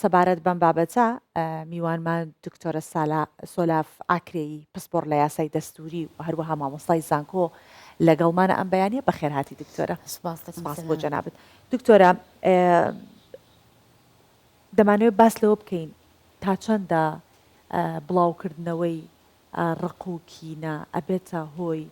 سەبارەت بەم بابەتە، میوانمان دکتۆرە سالا سۆلاف ئاکرێی پسپۆڕ لە یاسای دەستووری و هەروەها مامۆستای زانکۆ لەگەڵمانە ئەم بەیانە بەخێرهاتی دکتۆرە سپاس بۆ جەنابت دکتۆرە دەمانەوێت باس لەوە بکەین تا چەندە بڵاوکردنەوەی ڕق و کینە ئەبێتە هۆی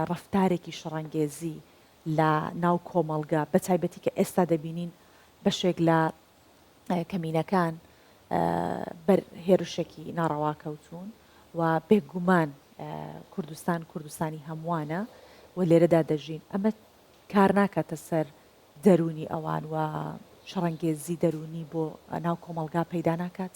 ڕفتارێکی شڕەنگێزی لە ناو کۆمەڵگە بە تایبەتی کە ئێستا دەبینین بەشێک لە کەمینەکان بەر هێرشێکی ناڕەوا کەوتوون و بێگومان کوردستان کوردستانی هەمووانە و لێرەدا دەژین ئەمە کار ناکاتە سەر دەرونی ئەوان و شەڕەنگێزی دەرونی بۆ ناو کۆمەلگا پەیدا ناکات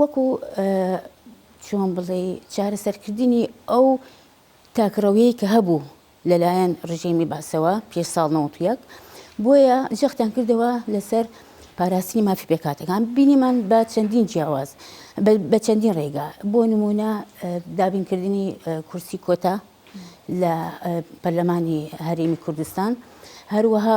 وەکو چۆن بڵێی چارەسەرکردنی ئەو تاکڕەویەی کە هەبوو لەلایەن ڕژێمی بەعسەوە پێش ساڵ نەوەد و یەک، بۆیە جەختیان کردەوە لەسەر پاراستنی مافی پێکهاتەکان، بینیمان بە چەندین جیاواز بە چەندین ڕێگا بۆ نموونە دابینکردنی کورسی کۆتا لە پەرلەمانی هەرێمی کوردستان، هەروەها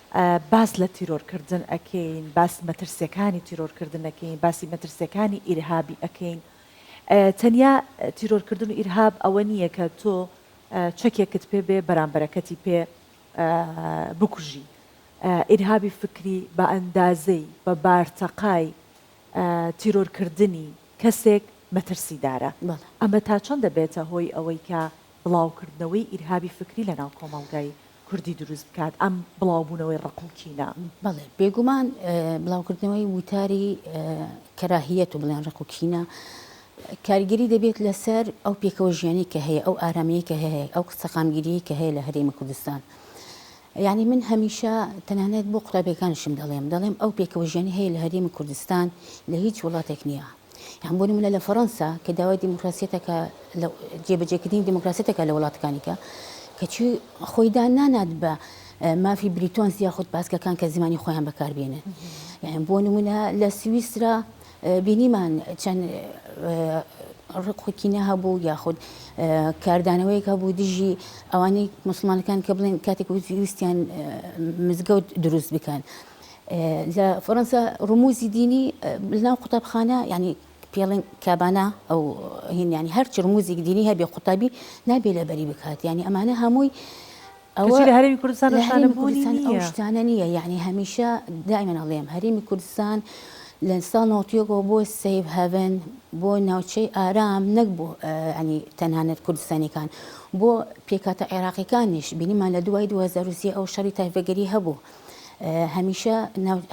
باس لە تیرۆر کردن ئەکەین باس مەترسیەکانی تیرۆر کردن ئەکەین باسی مەترسیەکانی ئیرهابی ئەکەین تەنیا تیرۆر کردن و ئیرهاب ئەوە نییە کە تۆ چەکێکت پێ بێ بەرامبەرەکەتی پێ بکوژی ئیرهابی فکری بە ئەندازەی بە بارتەقای تیرۆرکردنی کەسێک مەترسیدارە ئەمە تا چەند دەبێتە هۆی ئەوەی کە بڵاوکردنەوەی ئیرهابی فکری لە ناو کۆمەڵگای کوردی دروست بکات ئەم بڵاوبوونەوەی ڕق و کینە؟ بەڵێ بێگومان بڵاوکردنەوەی وتاری کەراهیەت و بڵێن ڕق و کینە کاریگەری دەبێت لەسەر ئەو پێکەوە ژیانی کە هەیە ئەو ئارامیەی کە هەیە ئەو سەقامگیری کە هەیە لە هەرێمی کوردستان. یعنی من هەمیشە تەنانەت بۆ قوتابیەکانشم دەڵێم دەڵێم ئەو پێکەوە ژیانی هەیە لە هەرێمی کوردستان لە هیچ وڵاتێک نییە. یان بۆ نمونە لە فەرەنسا کە داوای دیموکراسیەت ئەکا لە جێ بەجێ کردنی دیموکراسیەت ئەکا لە وڵاتەکانی کە کەچی خۆی دان نانات بە مافی بریتۆنس یاخود پاسکەکان کە زمانی خۆیان بەکار بێنن یان بۆ نمونە لە سویسرا بینیمان چەند ڕقوکینە هەبوو یاخود کاردانەوەیەک هەبوو دژی ئەوانەی مسلمانەکان کە بڵێن کاتێک ویستیان مزگەوت دروست بکەن لە فەرەنسا ڕموزی دینی لەناو قوتابخانە یعنی پێڵێن کابانا ئەو هینیانی هەرچ ڕموزیک دینی هەبێ قوتابی نابێ لەبەری بکات یعنی ئەمانە هەمووی ئەوە لە هەرمی کوردستان هەرمی کوردستان ئەو شتانە نییە یعنی هەمیشە دائمن ئەڵێم هەرمی کوردستان لە ساڵ ناوتیەکەەوە بۆ سیف هەڤن بۆ ناوچەی ئارام نەک بۆ ئەنی تەنانەت کوردستانیەکان بۆ پێکاتە عێراقیەکانیش بینیمان لە دوای 2023 ئەو شەڕی تایفەگەری هەبوو هەمیشە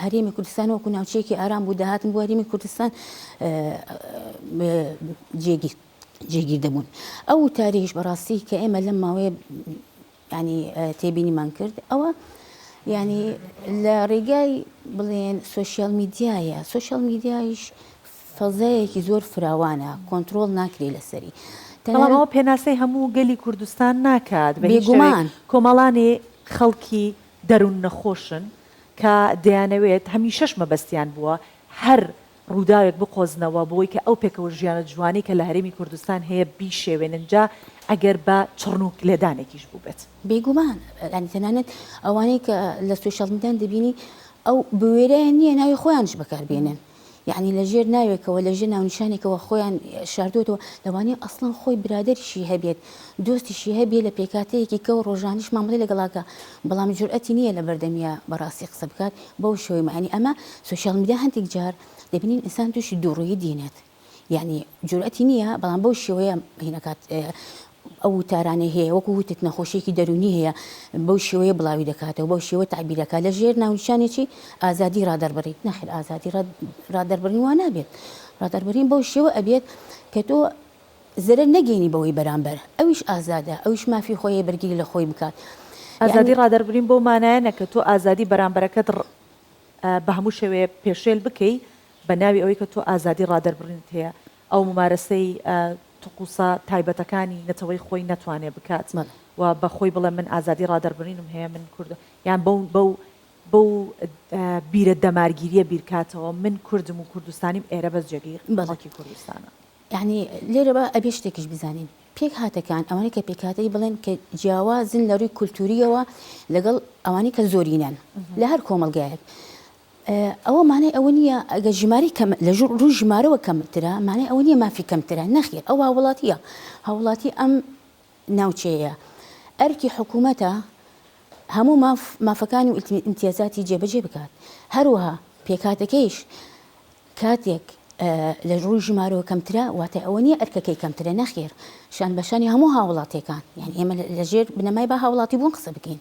هەرێمی کوردستان وەکو ناوچەیەکی ئارام بوو داهاتن بۆ هەرێمی کوردستان جێگیر جێگیر دەبوون ئەو تاریش بەڕاستی کە ئێمە لەم ماوەیە ینی تێبینیمان کرد ئەوە ینی لە ڕێگای بڵێن سوسیال میدیایە سوسیال میدیایش فەزایەکی زۆر فراوانە کۆنتترۆل ناکرێ لەسەری تەنەوە پێناسەی هەموو گەلی کوردستان ناکات بێگومان کۆمەڵانی خەڵکی دەرون نەخۆشن کە دەیانەوێت هەمیشەش مەبەستیان بووە هەر ڕووداوێک بقۆزنەوە بۆی کە ئەو پێکەوە ژیانە جوانەی کە لە هەرێمی کوردستان هەیە بیشێوێنن جا ئەگەر بە چڕنووک لێدانێکیش بووبێت. بێگومان یانی تەنانەت ئەوانەی کە لە سۆشیال میدان دەبینی ئەو بوێرەیان نییە ناوی خۆیانش بەکاربێنن یەعنی لە ژێر ناوێکەوە لە ژێر ناونیشانێکەوە خۆیان شاردووەتەوە لەوانەیە ئەسڵەن خۆی برادەریشی هەبێت دۆستیشی هەبێ لە پێکهاتەیەکی کەو ڕۆژانیش مامەڵەی لەگەڵاکا بەڵام جورئەتی نییە لە بەردەمیا بە ڕاستی قسە بکات بەو شێوەی مەعنی ئەمە سۆشیال میدیا هەندێک جار دەبینین ئینسان تووشی دووڕوویی دینێت یەعنی جورئەتی نییە بەڵام بەو شێوەیە هینەکات ئەو وتارانەی هەیە وەکو وتت نەخۆشیەکی دەروونی هەیە بەو شێوەیە بڵاوی دەکاتەوە بەو شێوە تەعبیر دەکات لە ژێر ناونیشانێکی ئازادی ڕادەربڕین نەخێر ئازادی ڕادەربڕین وا نابێت ڕادەربڕین بەو شێوە ئەبێت کە تۆ زەرەر نەگەینی بەوەی بەرامبەر ئەویش ئازادە ئەویش مافی خۆی بەرگری لە خۆی بکات ئازادی ڕادەربرین بەو مانایە نە کە تۆ ئازادی بەرامبەرەکەت بە هەموو شێوەیە پێشێل بکەی بە ناوی ئەوەی کە تۆ ئازادی ڕادەربڕینت هەیە ئەو مومارەسەی تقوسە تایبەتەکانی نەتەوەی خۆی نەتوانێ بکات و بە خۆی بڵێ من ئازادی ڕادەربرینم هەیە من کوردم یان بەو بەو بیرە دەمارگیریە بیرکاتەوە من کوردم و کوردستانیم ئێرە بەس جێگەی خەڵکی کوردستانە. یانی لێرەوە ئەبێ شتێکیش بزانین پێکهاتەکان ئەوانەی کە پێکهاتەی بڵێن کە جیاوازن لە ڕووی کولتوورییەوە لەگەڵ ئەوانەی کە زۆرینەن لە هەر کۆمەڵگایەک، ئەوە مانای ئەوە نییە ئەگەر ژمارەی کەم، لە ڕووی ژمارەوە کەمترە، مانای ئەوە نییە مافی کەمترە، نەخێر ئەو هاووڵاتییە، هاووڵاتی ئەم ناوچەیەیە، ئەرکی حکوومەتە هەموو ماف، مافەکان و ئیمتیازاتی جێبەجێ بکات، هەروەها پێکهاتەکەیش کاتێک لە ڕووی ژمارەوە کەمترە، واتای ئەوە نییە ئەرکەکەی کەمترە، نەخێر شانبەشانی هەموو هاووڵاتییەکان، یانی ئێمە لەژێر بنەمای با هاووڵاتیبوون قسە بکەین،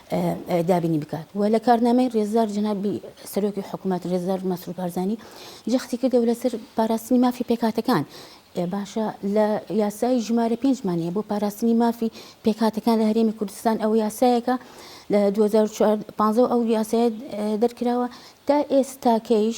دابینی بکات و لە کارنامەی رێزدار جەنابی سەرۆکی حکومەت رێزدار مەسرور بارزانی جەختی کردەوە لەسەر پاراستنی مافی پێکهاتەکان باشە لە یاسای ژمارە پێنجمان هەیە بۆ پاراستنی مافی پێکهاتەکان لە هەرێمی کوردستان ئەو یاسایەکە لە 2015 ئەو یاسایە دەرکراوە تا ئێستاکەیش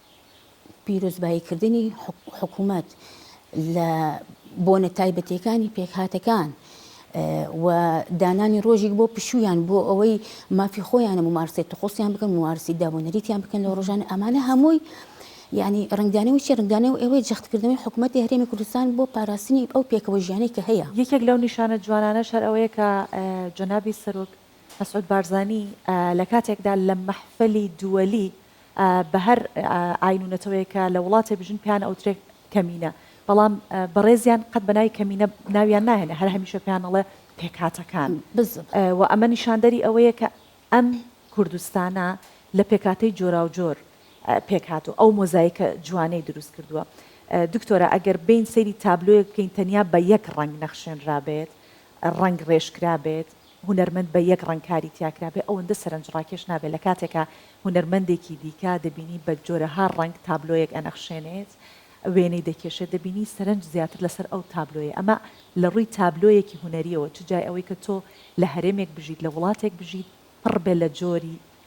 پیرۆزباییکردنی حکومەت لە بۆنە تایبەتیەکانی پێکهاتەکان و دانانی ڕۆژێک بۆ پشویان بۆ ئەوەی مافی خۆیانە ممارسی تخۆسیان بکەن ممارسی دابوونەریتیان بکەن لە ڕۆژان ئەمانە هەمووی ینی ڕنگدانەوە چی ڕنگدانە و ئەوەی جەختکردنەوەی حکوومەت هەرێمی کوردستان بۆ پاراستنی ئەو پێکەوە ژیانەی کە هەیە یەکێک لەو نیشانە جوانانە شەر ئەوەیە کە جەنابی سەرۆک مەسعود بارزانی لە کاتێکدا لە مەحفەلی دووەلی بە هەر ئاین و نەتەوەیەک کە لە وڵاتێ بژین پێیان ئەوترێ کەمینە بەڵام بەڕێزیان قەت بە ناوی کەمینە ناویان ناهێنێ هەر هەمیشە پێیان ئەڵێ پێکهاتەکان بزن و ئەمە نیشاندەری ئەوەیە کە ئەم کوردستانە لە پێکهاتەی جۆراوجۆر پێک هاتوو ئەو مۆزایکە جوانەی دروست کردووە دکتۆرە ئەگەر بین سەیری تابلۆیەک بکەین تەنیا بە یەک ڕەنگ نەخشێنرابێت ڕەنگ ڕێژ کرابێت هونەرمەند بە یەک ڕەنگ کاری تیا کرابێ ئەوەندە سەرەنجڕاکێش نابێ لە کاتێکا هونەرمەندێکی دیکە دەبینی بە جۆرەها ڕەنگ تابلۆیەک ئەنەخشێنێت وێنەی دەکێشێت دەبینی سەرەنج زیاتر لەسەر ئەو تابلۆیە ئەمە لە ڕووی تابلۆیەکی هونەریەوە چ جای ئەوەی کە تۆ لە هەرێمێک بژیت لە وڵاتێک بژیت پڕ بێ لە جۆری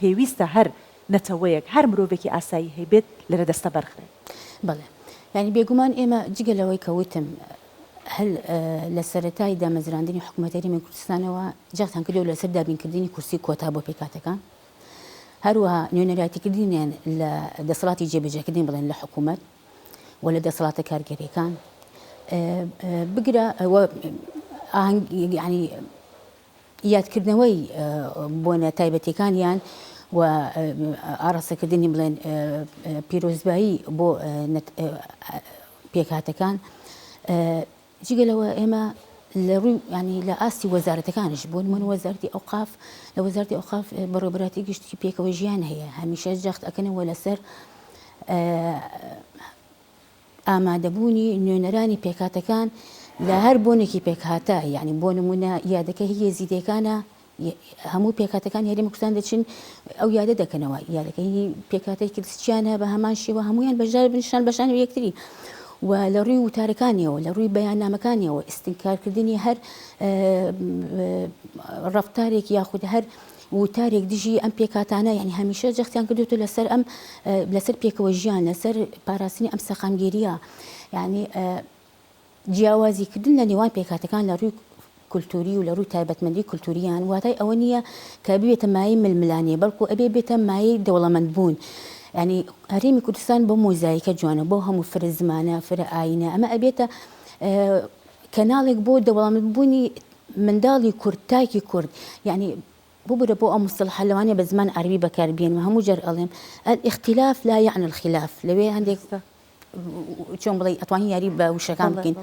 پێویستە هەر نەتەوەیەک، هەر مرۆڤێکی ئاسایی هەیبێت لەرەدەستە بەرخرێت. بەڵێ. یانی بێگومان ئێمە جگە لەوەی کە وتم هەر لە سەرەتای دامەزراندنی حکومەت هەرێمی کوردستانەوە جەختان کردوە لەسەر دابینکردنی کورسی کۆتا بۆ پێکهاتەکان، هەروەها نوێنەرایتیکردنیان لە دەسەڵاتی جێبەجێکردن بڵێن لە حکومەت و لە دەسەڵاتە کارگێریەکان بگرە و ئاهەنگ یانی یادکردنەوەی بۆنە تایبەتیەکانیان و ئاڕاستەکردنی بڵێن پیرۆزبایی بۆ پێکهاتەکان جگە لەوە ئێمە لە ڕووی ینی لە ئاستی وەزارەتەکانش بوون من وەزارتی ئەوقاف لە وەزارتی ئەوقاف بەڕێبراتی گشتی پێکەوە ژیان هەیە هەمیشە جەخت ئەەکەنەوە لەسەر ئامادەبوونی نوێنەرانی پێکهاتەکان لە هەر بۆنێکی پێکهاتە، یانی بۆ نموونە یادەکە هی یەزیدیەکانە، هەموو پێکهاتەکانی هەرێمی کوردستان دەچن ئەو یادە دەکەنەوە، یادەکە هی پێکهاتەی کریستیانە بە هەمان شێوە هەموویان بەشدار بن شان بەشان و یەکتری و لە ڕووی وتارەکانیەوە لە ڕووی بەیاننامەکانیەوە ئیستنکارکردنی هەر ڕەفتارێک یاخود هەر ووتارێک دژی ئەم پێکهاتانە یانی هەمیشە جەختیان کردووەتە لەسەر ئەم لەسەر پێکەوە ژیان لەسەر پاراستنی ئەم سەقامگیریە یانی جیاوازی کردن لە نێوان پێکهاتەکان لە ڕووی کولتوری و لە ڕووی تایبەتمەندی کولتوریان واتای ئەوە نییە کە بێتە مای ململانێ بەڵکو ئەبێ بێتە مای دەوڵەمەند بوون ینی هەرێمی کوردستان بۆ مۆزایکە جوانە بۆ هەموو فرە زمانە فرە ئاینە ئەمە ئەبێتە کەناڵێک بۆ دەوڵەمەند بوونی منداڵی کورد تاکی کورد یانی ببورە بۆ ئەو مستەڵەحە لەوانیە بە زمان عەرەبی بەکار بێنم هەموو جار ئەڵێم الاختلاف لا یعنی الخلاف لەوێ هەندێک چۆن بڵێ ئەتوانی یاری بە وشەکان بکەین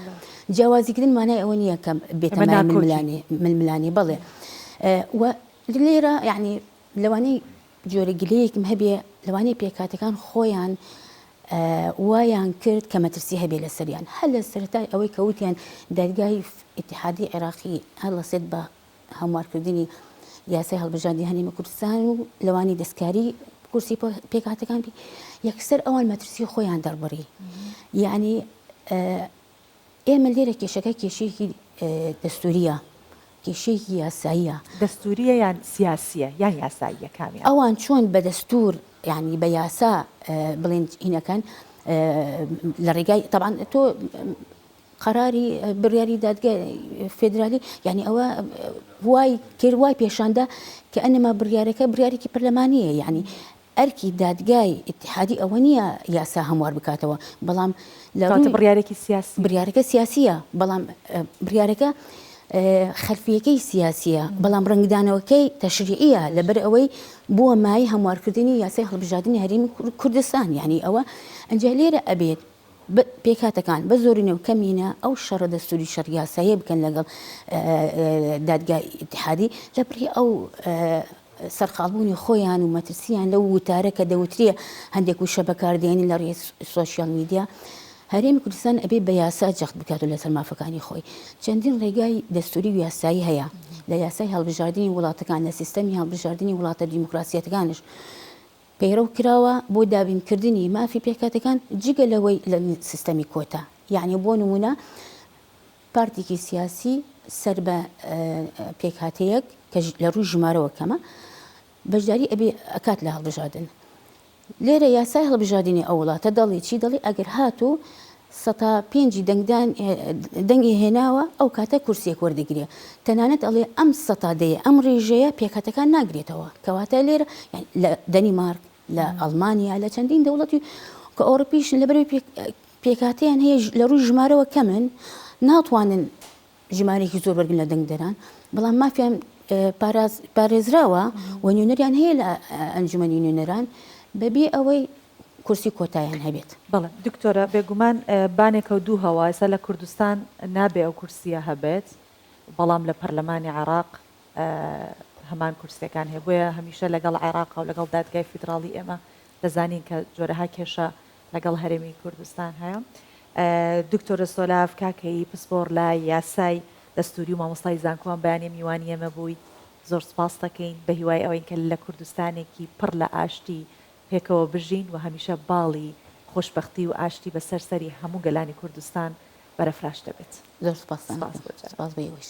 جیاوازیکردن مانای ئەوە نییە کە بێتەمای ململانێ ململانێ بڵێ و لێرە یعنی لەوانەی جۆرە گلەیەکم هەبێ لەوانەیە پێکهاتەکان خۆیان وایان کرد کە مەترسی هەبێ لەسەریان هەر لە سەرەتای ئەوەی کە وتیان دەرگای ئتحادی عێراقی هەڵەسێت بە هەموارکردنی یاسای هەڵبژاردی هەرێمی کوردستان و لەوانی دەستکاری کورسی پێکهاتەکان بی یەکسەر ئەوان مەترسی خۆیان دەربڕی یعنی ئێمە لێرە کێشەکە کێشەیەکی دەستوورییە، کێشەیەکی یاساییە. دەستوورییە یان سیاسییە یان یاساییە کامیان؟ ئەوان چۆن بە دەستوور یانی بە یاسا بڵێن ئینەکەن لە ڕێگای تەبان تۆ قەراری بڕیاری دادگە فێدرالی یعنی ئەوە وای کرد وای پێشاندا کە ئەنەما بڕیارەکە بڕیارێکی پەرلەمانیە یعنی ئەرکی دادگای ئیتیحادی ئەوە نییە یاسا هەموار بکاتەوە، بەڵام لە کەواتە رووی بڕیارێکی سیاسییە. بڕیارەکە سیاسییە، بەڵام بڕیارەکە خەلفییەکەی سیاسییە، بەڵام رەنگدانەوەکەی تەشریعییە، لەبەر ئەوەی بووە مایەی هەموارکردنی یاسای هەڵبژاردنی هەرێمی کوردستان، یانی ئەوە ئەنجا لێرە ئەبێت پێکهاتەکان بە زۆرینە و کەمینە ئەو شەڕە دەستووری شەڕ یاساییە بکەن لەگەڵ دادگای ئیتیحادی لەبری ئەو سەرقاڵبوونی خۆیان و مەترسییان لەو وتارە کە دەوترێ هەندێک وشە بەکاردێنن لە ڕێی سۆشیال میدیا، هەرێمی کوردستان ئەبێ بە یاسا جەخت بکات و لەسەر مافەکانی خۆی. چەندین ڕێگای دەستووری و یاسایی هەیە، لە یاسای هەڵبژاردنی وڵاتەکان، لە سیستەمی هەڵبژاردنی وڵاتە دیموکراسیەتەکانش پەیڕەو کراوە بۆ دابینکردنی مافی پێکهاتەکان، جگە لەوەی لە سیستەمی کۆتا، یەعنی بۆ نموونە، پارتێکی سیاسی سەر بە پێکهاتەیەک کە لە ڕووی ژمارەوە کەمە بەشداری ئەبێ ئەکات لە هەڵبژاردن لێرە یاسای هەڵبژاردنی ئەو وڵاتە دەڵی چی دەڵی ئەگەر هات و سەتا پێنجی دەنگدان دەنگی هێناوە ئەو کاتە کورسێک وەردەگرێ تەنانەت ئەڵێ ئەم سەتادەیە ئەم ڕێژەیە پێکاتەکان ناگرێتەوە کەواتە لێرە لە دەنیمارک لە ئەڵمانیا لە چەندین دەوڵەتی کە ئەوڕپیشن لەبەرەوەی پێکاتیان هەیە لە ڕووی ژمارەوە کەمن ناتوانن ژمارێکی زۆر بەرگن لە دەنگدەران بەڵام مافیان پارێزراوە و نوێنەریان هەیە لە ئەنجومی نوێنەران بەبێ ئەوەی کورسی کۆتایان هەبێت بەڵێ دکتۆرە بێگومان بانێکە و دوو هەوایسا لە کوردستان نابێ ئەو کورسیە هەبێت بەڵام لە پەرلەمانی عراق هەمان کورسیەکان هەیە بۆیە هەمیشە لەگەڵ عێراقە و لەگەڵ دادگای فیدراڵی ئێمە دەزانین کە جۆرەها کێشە لەگەڵ هەرێمی کوردستان هەیە دکتۆرە سۆلاف کاکەیی پسپۆڕ لە یاسای دەستوری و مامۆستای زانکۆوان بەیانی میوانی ئێمە بوویت زۆر سپاس دەکەین بە هیوای ئەوەین کە لە کوردستانێکی پڕ لە ئاشتی پێکەوە بژین و هەمیشە باڵی خۆشببختی و ئاشتی بەسەر سەری هەموو گەلانی کوردستان بەرەفراش دەبێت زۆر سپاس سپاس بۆ جارێ. سپاس بۆ ئێوەش.